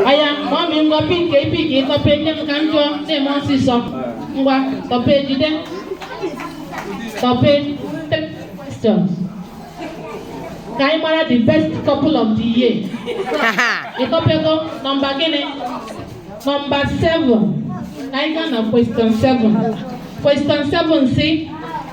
aya mgbe ọ mị ngwa pikie i pikie ị tọpe nye m ka m jụọ na-eme ọsịsọ ngwa tọpe jide tọpe three questions ka anyị mara the best couple of the year ị tọpego nọmba gịnị nọmba 7 ka anyị gaa na question 7 question 7 sị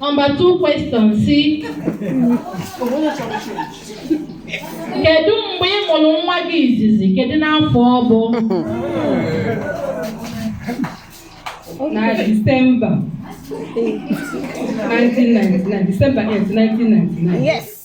Number two question sị kedu mgbe ị mụrụ nwa gị izizi kedu n'afọ ọ bụ na Disemba 1999 Disemba 8 1999 Yes.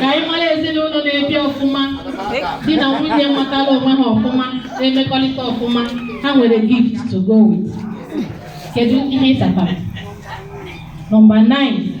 ka anyị mara ezinụlọ na-ebi ọfụma di na nwunye matala onwe ha ọfụma na-emekọrịta ọfụma ha nwere gift to go with kedu ihe ị satara nọmba 9